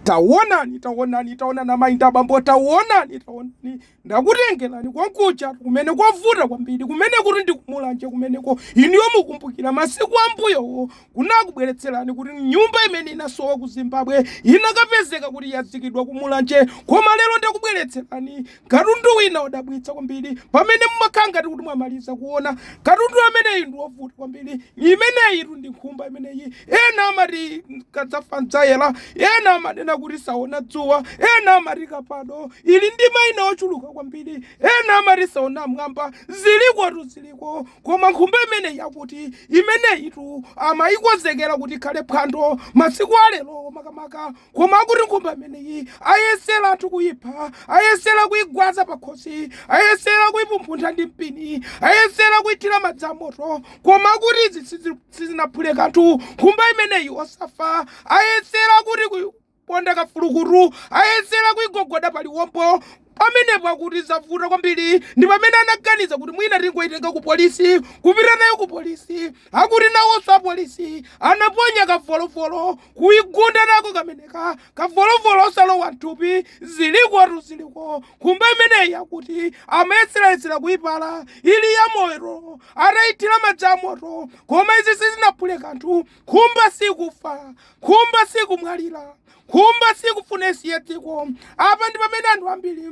Taonani, taonani, taonani amayi ndi abambo, taonani, taonani, ndakutengerani konkujatu kumene kwavuta kwambiri, kumene kuti ndikumulanje kumeneko. Inuyo mukumbukira masiku ambuyowo kunakubweretserani kuti nyumba imene inasowa ku Zimbabwe inakapezeka kuti yazikidwa kumulanje, koma lero ndakubweretserani Katundu wina odabwitsa kwambiri pamene mumakhala ngati kuti mwamaliza kuona katundu ameneyi ndi wovuta kwambiri imeneyitu ndi nkhumba imeneyi ena amati kadzafa mdzayela ena amanena kuti saona dzuwa ena amati kapado ili ndi maina ochuluka kwambiri ena amati saona m'mwamba zilikotu ziliko koma nkhumba imeneyi akuti imeneyitu amayikonzekera kuti ikhale phwando masiku alero makamaka koma akuti nkhumba imeneyi ayesera anthu kuyipha ayesera kuyigwaza pakhosi ayesera kuyipumphuntha ndi mpini ayesera kuyithira madzi amoto koma akuti izi sizi- sizinaphule kanthu nkhumba imeneyi osafa ayesera kuti kuyiponda kafulukutu ayesera kuyigogoda paliwombo Pamenepo akuti zavuta kwambiri ndi pamene anaganiza kuti mwina tingoitenga ku polisi kupita nayo ku polisi. Akuti nawonso apolisi anaponya kavolovolo kuigunda nako kameneka kavolovolo osalowa mthupi zilikotu ziliko. Nkhumba imeneyi akuti amayeserayesera kuipala ili yamoyo ataithira madzi amoto koma izi sizinaphule kanthu. Nkhumba sikufa, nkhumba sikumwalira. Nkhumba siikufuna isiye dziko. Apa ndi pamene anthu ambiri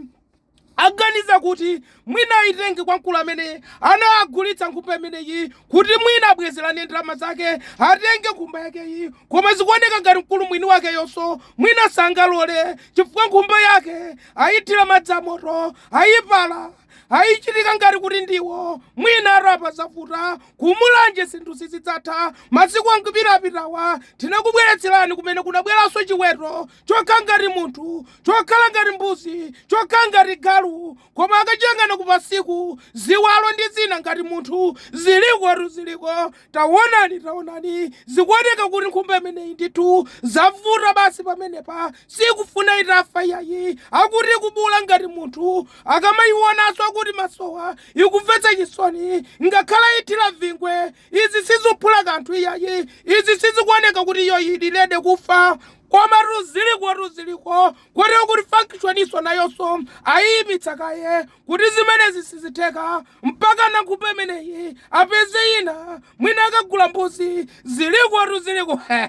aganiza kuti mwina aitenge kwa mkulu amene anagulitsa nkhumba imeneyi kuti mwina abwezerane ndalama zake atenge nkhumba yakeyi, koma zikuoneka ngati mkulu mwini wakeyonso mwina sangalole chifukwa nkhumba yake aithira madzi amoto, aipala, aichitika ngati kuti ndiwo mwina apa zavuta. Ku Mulanje zinthu sizidzatha. Masiku angapo apitawa tinakubweretserani kumene kunabadwanso chiweto chokhala ngati munthu, chokhala ngati mbuzi, chokhala ngati galu, koma akachiyang'ana kupansiku, ziwalo ndi zina ngati munthu. Zilikotu, ziliko. Taonani, taonani, zikuoneka kuti nkhumba imeneyi ndithu zavuta basi pamenepa, siikufuna itafa iyayi. Akuti ikubuula ngati munthu, akamayionanso akuti m'masowa Ikumvetsa chisoni, ngakhale ayithira vingwe, izi sizuphula kanthu iyayi, izi sizikuoneka kuti iyo ili ready kufa, komatu zilikotu ziliko, koti akuti functioninso nayonso ayiyimitsa kaye kuti zimenezi sizitheka, mpaka nkhumba imeneyi apeze ina, mwina akagule mbuzi, zilikotu ziliko.